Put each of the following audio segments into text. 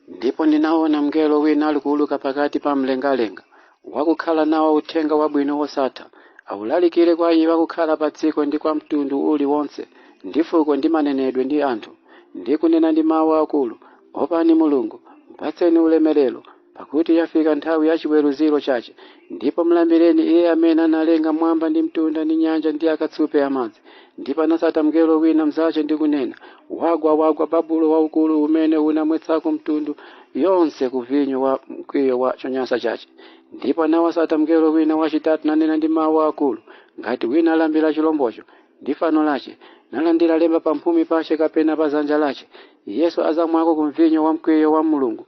ndipo ndinaona mngelo wina alikuuluka pakati pa mlengalenga wakukhala nawo uthenga wabwino wosatha aulalikire kwa iwo akukhala pa dziko ndi kwa mtundu uliwonse ndi fuko ndi manenedwe ndi anthu ndi kunena ndi mawu akulu opani mulungu mpatseni ulemerero Pakuti yafika nthawi ya chiweruziro chache, ndipo mlambireni iye amene analenga mwamba ndi mtunda ndi nyanja ndi akatsupe amadzi. Ndipo anasata mngelo wina mzache ndi kunena, Wagwa, wagwa Babulo waukulu umene unamwetsako mtundu yonse ku vinyo wa mkwiyo wa chonyansa chache. Ndipo anawasata mngelo wina wachitatu nanena ndi mau akulu, ngati wina alambira chilombocho ndi fano lache, nalandira lemba pamphumi pache kapena pa zanja lache, iyenso azamwako ku mvinyo wa mkwiyo wa Mulungu,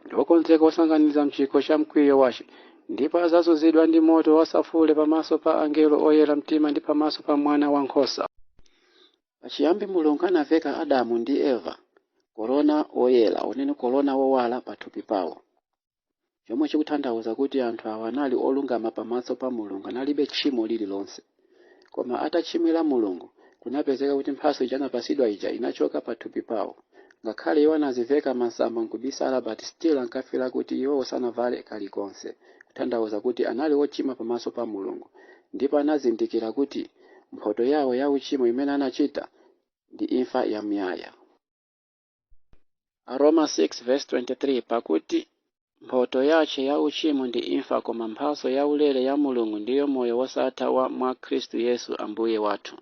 ndi wokonzeka wosanganiza mchikho cha mkwiyo wache ndipo azazunzidwa ndi moto wasafule pamaso pa angelo oyera mtima ndi pamaso pa mwana wa nkhosa pachiyambi mulungu anaveka adamu ndi eva korona woyera unene korona wowala pathupi pawo chomwe chikutanthauza kuti anthu awa anali olungama pamaso pa mulungu analibe tchimo lililonse Koma atachimwira Mulungu, kunapezeka kuti mphatso ija anapasidwa ija inachoka pathupi pawo. Ngakhale iwo anaziveka masamba nkubisala but still ankafila kuti iwo sanavale kalikonse, kuthandauza kuti anali ochimwa pamaso pa Mulungu. Ndipo anazindikira kuti mphoto yawo ya uchimo imene anachita ndi imfa yamuyaya. Aroma 6:23 Pakuti mphoto yache ya uchimo ndi imfa, koma mphatso yaulere ya Mulungu ndiyo moyo wosatha wa mwa Khristu Yesu Ambuye wathu.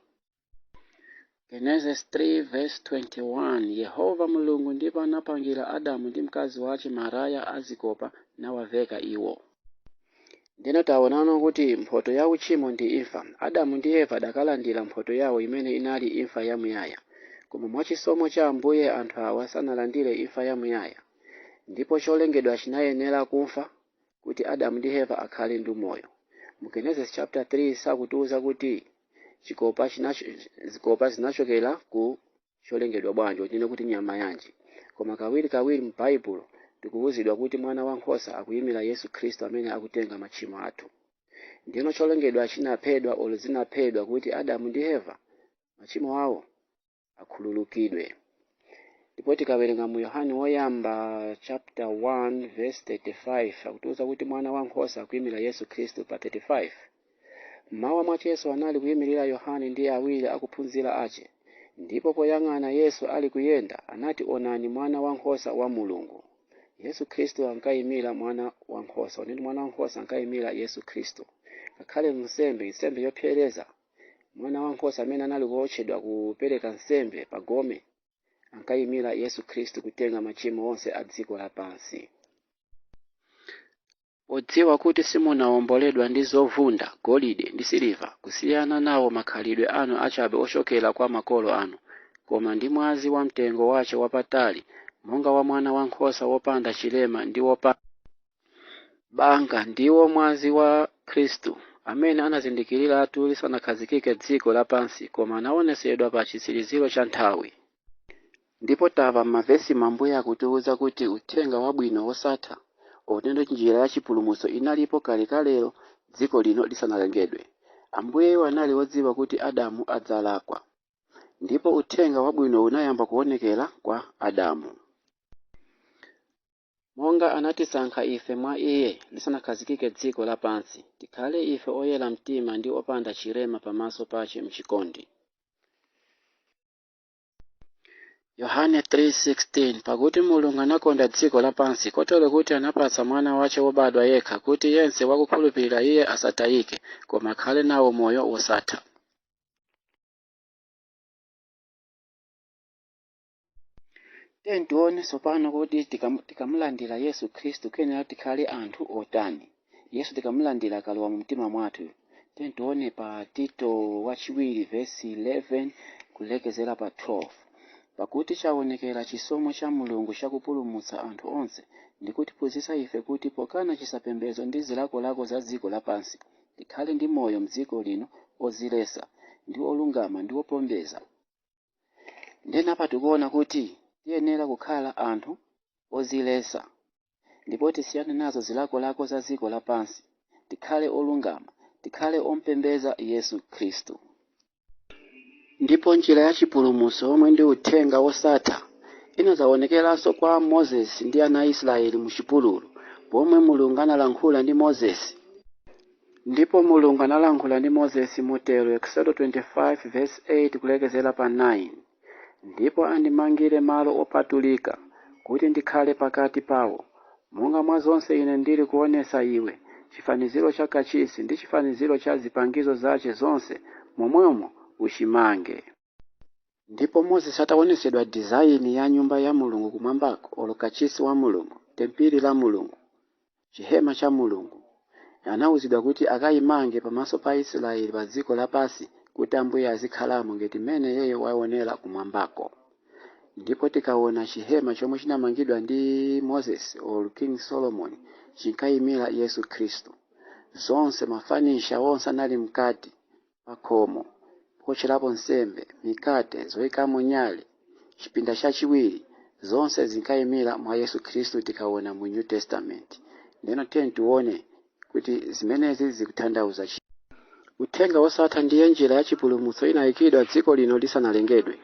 Genesis 3:21 Yehova Mulungu ndipo anapangira Adamu ndi mkazi wache maraya a zikopa, nawaveka iwo. Ndeno taonano kuti mphoto ya uchimo ndi imfa. Adamu ndi Eva adakalandira mphoto yawo imene inali imfa ya muyaya. Koma mwa chisomo cha Ambuye anthu awa sanalandire imfa ya muyaya. Ndipo cholengedwa chinayenera kufa kuti Adamu ndi Eva akhale ndi moyo. Mu Genesis chapter 3 sakutiuza kuti zikopa zinachokera ku cholengedwa bwanji, tinene kuti nyama yanji, koma kawirikawiri mu Baibulo tikuwuzidwa kuti mwana wa nkhosa akuyimira Yesu Khristu amene akutenga machimo athu. Ndeno cholengedwa chinaphedwa olo zinaphedwa kuti Adamu ndi Eva machimo awo akhululukidwe. Ndipo tikawerenga mu Yohane woyamba chapter 1 verse 35 akutiwuza kuti mwana wa nkhosa akuyimira Yesu Khristu pa 35. M'mawa mwace Yesu anali kuimirira Yohane ndi awiri akuphunzira ace, ndipo poyang'ana Yesu ali kuyenda, anati, Onani Mwana wa nkhosa wa Mulungu! Yesu Kristu ankaimira Mwana wa nkhosa. Onani, Mwana wa nkhosa ankaimira Yesu Kristu. Ngakhale m'nsembe, nsembe yopsereza, mwana wa nkhosa amene anali kuotchedwa kupereka nsembe pa gome ankaimira Yesu Kristu kutenga machimo onse a dziko lapansi. Podziwa kuti simunawomboledwa ndi zovunda, golide, ndi siliva, kusiyana nawo makhalidwe anu achabe ochokera kwa makolo anu, koma ndi mwazi wa mtengo wace wapatali, monga wa mwana wa nkhosa wopanda cirema ndi wopanda banga, ndiwo mwazi wa Kristu, amene anazindikiriratu lisanakhazikike dziko lapansi, koma anaonetsedwa pa citsiriziro ca nthawi. Ndipo tamva m'mavesimu Ambuye akutiuza kuti uthenga wabwino wosatha, otendo njira ya chipulumutso inalipo kalekalelo dziko lino lisanalengedwe. Ambuyeyu anali odziwa kuti Adamu adzalakwa. Ndipo uthenga wabwino unayamba kuonekera kwa Adamu. Monga anatisankha ife mwa Iye lisanakhazikike dziko lapansi, tikhale ife oyera mtima ndi opanda chirema pamaso pace m'chikondi. Yohane 3:16 Pakuti Mulungu anakonda dziko lapansi kotero kuti anapatsa mwana wace wobadwa yekha kuti yense wakukhulupirira iye asatayike koma akhale nawo moyo wosatha. Tiyeni tione tsopano kuti tikam- tikamulandira Yesu Khristu tiyenera tikhale anthu otani. Yesu tikamulandira akalowa mu mtima mwathu. Tiyeni tione pa Tito wachiwiri vesi 11 kulekezera pa 12. Pakuti chaonekera chisomo cha Mulungu chakupulumutsa anthu onse, ndi kutiphunzitsa ife kuti pokana chisapembedzo ndi zilakolako za dziko lapansi, tikhale ndi moyo m'dziko lino odziletsa, ndi olungama, ndi opembedza. Ndiyeno apa tikuona kuti tiyenera kukhala anthu odziletsa. ndipo tisiyane nazo zilakolako za dziko lapansi, tikhale olungama, tikhale ompembedza Yesu Khristu. Ndipo njira ya chipulumutso womwe ndi uthenga wosatha inadzawonekeranso kwa Moses ndi ana a Israeli mu chipululu, pomwe Mulungu analankhula ndi Moses. Ndipo Mulungu analankhula ndi Moses motero, Eksodo 25 vesi 8 kulekezera pa 9. ndipo andimangire malo opatulika, kuti ndikhale pakati pawo, monga mwa zonse ine ndiri kuonetsa iwe, cifaniziro ca Kacisi, ndi cifaniziro ca zipangizo zace zonse, momwemo ucimange. Ndipo Moses ataonetsedwa dizaini ya nyumba ya Mulungu kumwambako, olo kacisi wa Mulungu, tempili la Mulungu, chihema cha Mulungu. Anauzidwa kuti akaimange pamaso pa Aisraeli pa dziko lapansi kuti Ambuye azikhalamo ngati mmene iyeyo waonera kumwambako. Ndipo tikaona chihema chomwe chinamangidwa ndi Moses or King Solomon chinkaimira Yesu Khristu. Zonse mafanicha onse anali mkati pakhomo pootcherapo nsembe, mikate, zoikamo nyale, chipinda chachiwiri, zonse zinkaimira mwa Yesu Khristu tikaona mu New Testament. Ndeno tiyeni tione kuti zimenezi zikuthandauza chi. Uthenga wosatha ndiye njira ya chipulumutso inaikidwa dziko lino lisanalengedwe.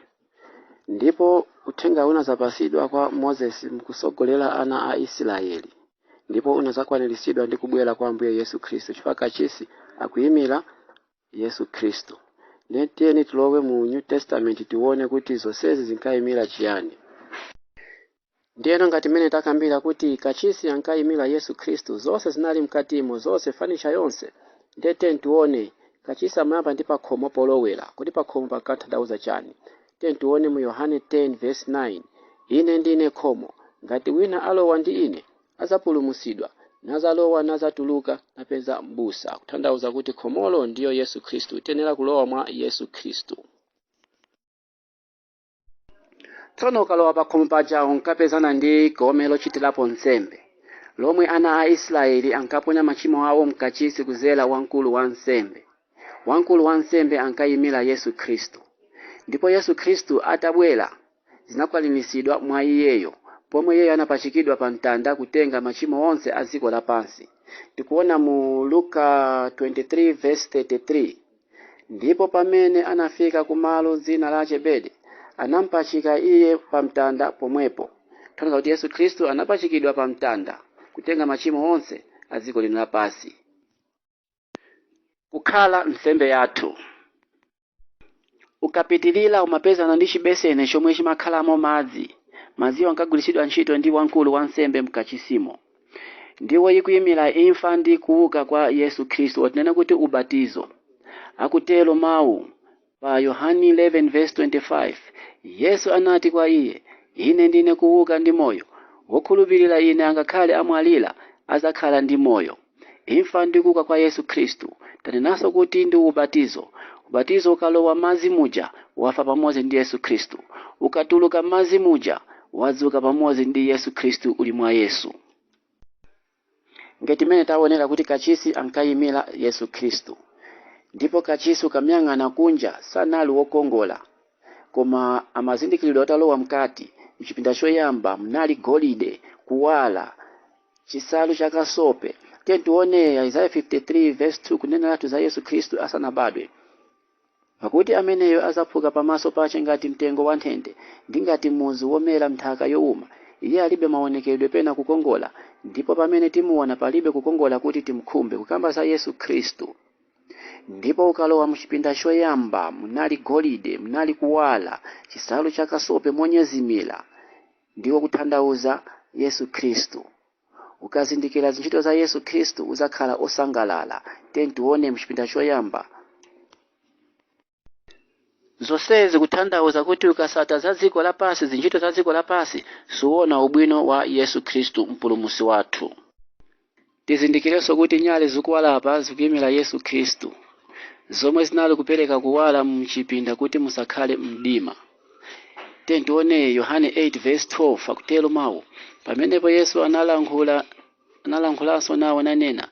Ndipo uthenga unazapatsidwa kwa Moses mkusogolera ana a Israeli ndipo unazakwaniritsidwa ndi kubwera kwa Ambuye Yesu Khristu chifukwa kachisi akuyimira Yesu Khristu. Ndiye tiyeni tilowe mu New Testament tiwone kuti zonsezi zinkayimira chiyani. Ndiyeno ngati mmene takambira kuti kachisi ankayimira Yesu Khristu, zonse zinali mkatimo, zonse, fanicha yonse. Ndiye tiyeni tiwone, kachisi amayamba ndi pakhomo polowera. Kodi pakhomo pankathandauza chani? Tiyeni tiwone mu Yohane 10 vesi 9, Ine ndine khomo, ngati wina alowa ndi ine, adzapulumutsidwa, nadzalowa nadzatuluka, napeza m'busa. Kuthandauza kuti khomolo ndiyo Yesu Khristu. Tiyenera kulowa mwa Yesu Khristu. tsono ukalowa pakhomo paja unkapezana ndi gome lochitirapo nsembe lomwe ana a israeli ankaponya machimo awo mkachisi kuzera wamkulu wa nsembe wamkulu wa nsembe ankayimira yesu khristu ndipo yesu khristu atabwera zinakwaniritsidwa mwa iyeyo pomwe iyeyo anapachikidwa pa mtanda kutenga machimo onse a dziko lapansi tikuona mu luka 23 verse 33 Ndipo pamene anafika ku malo dzina lache Bede, anampachika iye pamtanda pomwepo. Kutanthauza kuti Yesu Khristu anapachikidwa pamtanda kutenga machimo onse a dziko lino lapansi. Kukhala nsembe yathu. Ukapitirira umapezana ndi chibeseni chomwe chimakhalamo madzi. Madziwo ankagwiritsidwa ntchito ndi wamkulu wansembe m'kachisimo. Ndiwo ikuyimira imfa ndi kuwuka kwa Yesu Khristu, or tinene kuti ubatizo. Akutero Mawu, pa Yohane 11:25, Yesu anati kwa iye, Ine ndine kuwuka ndi Moyo, wokhulupirira Ine angakhale amwalira, adzakhala ndi moyo. Imfa ndi kuwuka kwa Yesu Khristu. Tanenanso kuti ndi ubatizo. Ubatizo ukalowa madzi muja, wafa pamodzi ndi Yesu Khristu. Ukatuluka madzi muja, wadzuka pamodzi ndi Yesu Khristu uli mwa Yesu. Ngati mmene taonera kuti kachisi ankayimira Yesu Khristu, ndipo kachisi ukamuyang'ana kunja sanali wokongola, koma amazindikiridwa atalowa mkati mchipinda choyamba mnali golide, kuwala, chisalu cha kasope. Tiyeni tione Isaiah 53 verse 2 kuneneratu za Yesu Khristu asanabadwe. Pakuti ameneyo adzaphuka pamaso pache ngati mtengo wanthete, ndi ngati muzu womera m'nthaka youma, iye alibe maonekedwe pena kukongola, ndipo pamene timuona palibe kukongola kuti timkhumbe, kukamba za Yesu Khristu. Ndipo ukalowa mchipinda choyamba, munali golide, munali kuwala, chisalu cha kasope monyezimira, ndiko kuthandauza Yesu Khristu. Ukazindikira zintchito za Yesu Khristu udzakhala osangalala. Tiyeni tione mchipinda choyamba. Zonsezi kuthandauza kuti ukasata za dziko lapansi, zintchito za dziko lapansi, suona ubwino wa Yesu Khristu mpulumusi wathu. Tizindikirenso kuti nyale zikuwala apa zikuimira Yesu Khristu zomwe zinali kupereka kuwala mchipinda kuti musakhale mdima. Tiyeni tione Yohane 8 verse 12 akutero mawu. Pamenepo Yesu analankhulanso nawo nanena,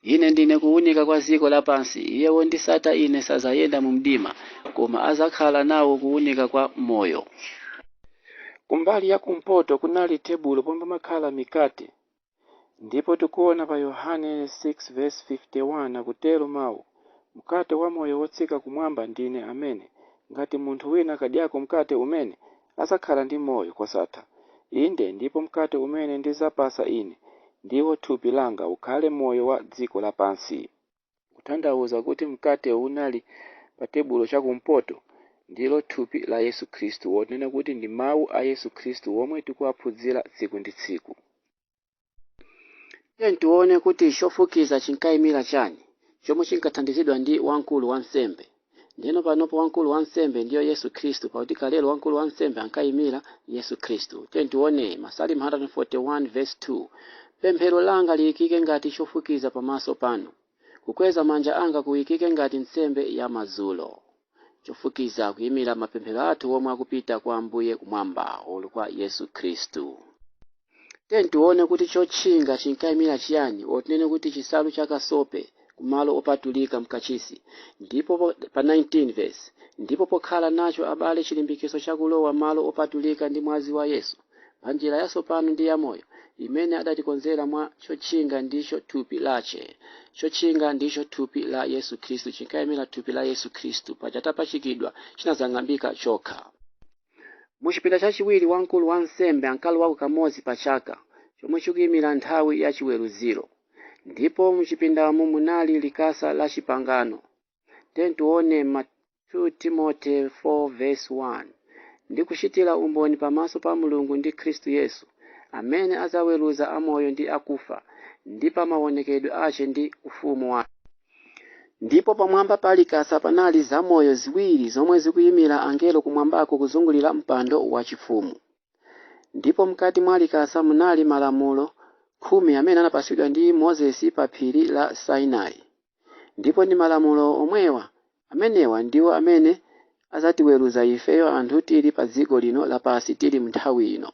Ine ndine kuwunika kwa dziko lapansi, iye wondisata ine sazayenda mu mdima, koma azakhala nawo kuwunika kwa moyo. Kumbali ya kumpoto kunali tebulo pomwe pamakhala mikate. Ndipo tikuona pa Yohane 6:51 akutero Mau, Mkate wa moyo wotsika kumwamba ndi Ine amene, ngati munthu wina akadyako mkate umene, azakhala ndi moyo kosatha. Inde, ndipo mkate umene ndizapasa ine, ndiwo thupi langa ukhale moyo wa dziko lapansi. kuthandauza kuti mkate unali patebulo chakumpoto, ndilo thupi la Yesu Khristu, or tinene kuti ndi mawu a Yesu Khristu womwe tikuwaphunzira tsiku ndi tsiku. Tiyeni tiwone kuti chofukiza chinkaimira chani chomwe chinkathandizidwa ndi wamkulu wansembe. Ndiyeno panopo wamkulu wansembe ndiyo Yesu Khristu, pakuti kalelo wamkulu wansembe ankaimira Yesu Khristu. Tiyeni tione Masalimo 141 vesi 2 Pemphero langa liikike ngati chofukiza pamaso panu, kukweza manja anga kuikike ngati nsembe ya madzulo. Chofukiza kuimira mapemphero athu omwe akupita kwa Ambuye kumwamba or kwa Yesu Khristu. Tiyeni tione kuti chotchinga chinkaimira chiyani, or tinene kuti chisalu cha kasope, ku malo opatulika m'kachisi. Ndipo pa 19 vesi, Ndipo pokhala nacho, abale, chilimbikitso cha kulowa m'malo opatulika ndi mwazi wa Yesu, pa njira yatsopano ndi yamoyo, imene adatikonzera mwa chotchinga ndicho thupi lache. Chotchinga ndicho thupi la Yesu Khristu, chinkaimira thupi la Yesu Khristu. Paja atapachikidwa, chinazang'ambika chokha. Mu chipinda chachiwiri wamkulu wansembe ankalowako kamodzi pa chaka, chomwe chikuimira nthawi ya chiweruziro. Ndipo mu chipindamu munali likasa la chipangano. Tiyeni tione 2 Timothy 4 vesi 1 ndikuchitira umboni pamaso pa Mulungu ndi Khristu Yesu, amene adzaweruza amoyo ndi akufa, ndi pa maonekedwe ache ndi ufumu wache. Ndipo pamwamba pa Likasa panali zamoyo ziwiri zomwe zikuimira angelo kumwambako kuzungulira mpando wachifumu. Ndipo mkati mwa Likasa munali malamulo khumi amene anapatsidwa ndi Mozesi pa phiri la Sinai. Ndipo ndi malamulo omwewa, amenewa ndiwo amene azatiweruza ifeyo anthu tili pa dziko lino lapansi tili m'nthawi ino.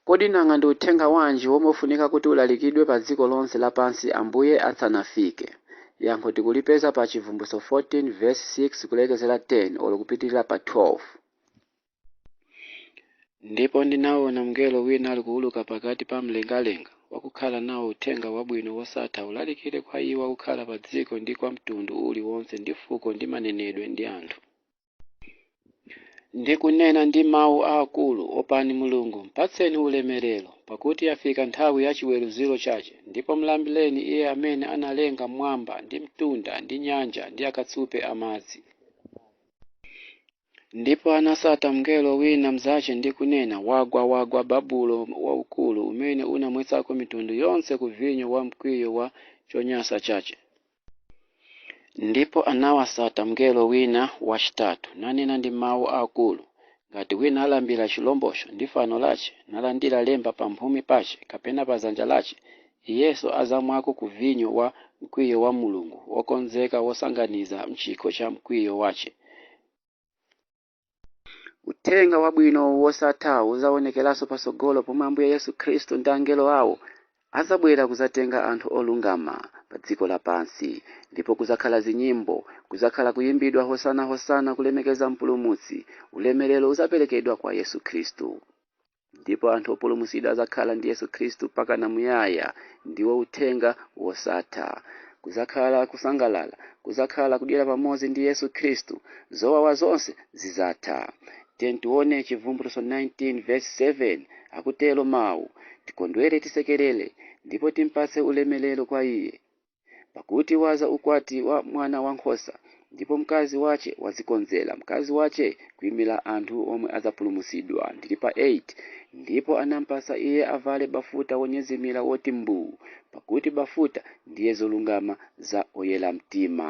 Kodi nanga ndi uthenga wanji womwe ufunika kuti ulalikidwe pa dziko lonse lapansi Ambuye atsanafike? Yankho tikulipeza pa Chivumbulutso 14 vesi 6 kulekezera 10 olo kupitirira pa 12. Ndipo ndinaona mngelo wina ali kuuluka pakati pa mlengalenga, wakukhala nawo uthenga wabwino wosatha ulalikire kwa iwo akukhala padziko ndi kwa mtundu uliwonse ndi fuko ndi manenedwe ndi anthu. Ndi kunena ndi mawu aakulu, Opani Mulungu, mpatseni ulemerero, pakuti yafika nthawi ya chiweruziro chache, ndipo mlambireni Iye amene analenga m'mwamba, ndi mtunda, ndi nyanja, ndi akatsupe a madzi. Ndipo anasata mngelo wina mzache ndi kunena, Wagwa, wagwa Babulo waukulu, umene unamwetsako mitundu yonse ku vinyo wa mkwiyo wa chonyansa chache. Ndipo anawasata mngelo wina wachitatu, nanena ndi mawu akulu, Ngati wina alambira chilombocho, ndi fano lache, nalandira lemba pamphumi pache, kapena pa dzanja lache, Iyenso adzamwako ku vinyo wa mkwiyo wa Mulungu, wokonzeka wosanganiza m'chikho cha mkwiyo wache. Uthenga wabwino wosatha udzaonekeranso patsogolo pomwe Ambuye Yesu Khristu ndi angelo awo adzabwera kudzatenga anthu olungama padziko lapansi. Ndipo kudzakhala zinyimbo, kudzakhala kuyimbidwa Hosana Hosana kulemekeza Mpulumutsi, ulemerero udzaperekedwa kwa Yesu Khristu. ndipo anthu opulumutsidwa adzakhala ndi yesu khristu mpakana muyaya ndiwo uthenga wosatha kudzakhala kusangalala kudzakhala kudyera pamodzi ndi yesu khristu zowawa zonse zidzatha tiyeni tione chivumbulutso 19 verse 7 akutero mawu tikondwere tisekerere ndipo timpatse ulemerero kwa iye Pakuti wadza ukwati wa mwana wa nkhosa, ndipo mkazi wace wadzikonzera mkazi wace kuimira anthu omwe adzapulumutsidwa, ndili pa 8 Ndipo anampatsa iye avale bafuta wonyezimira woti mbu, pakuti bafuta ndiye zolungama za oyera mtima.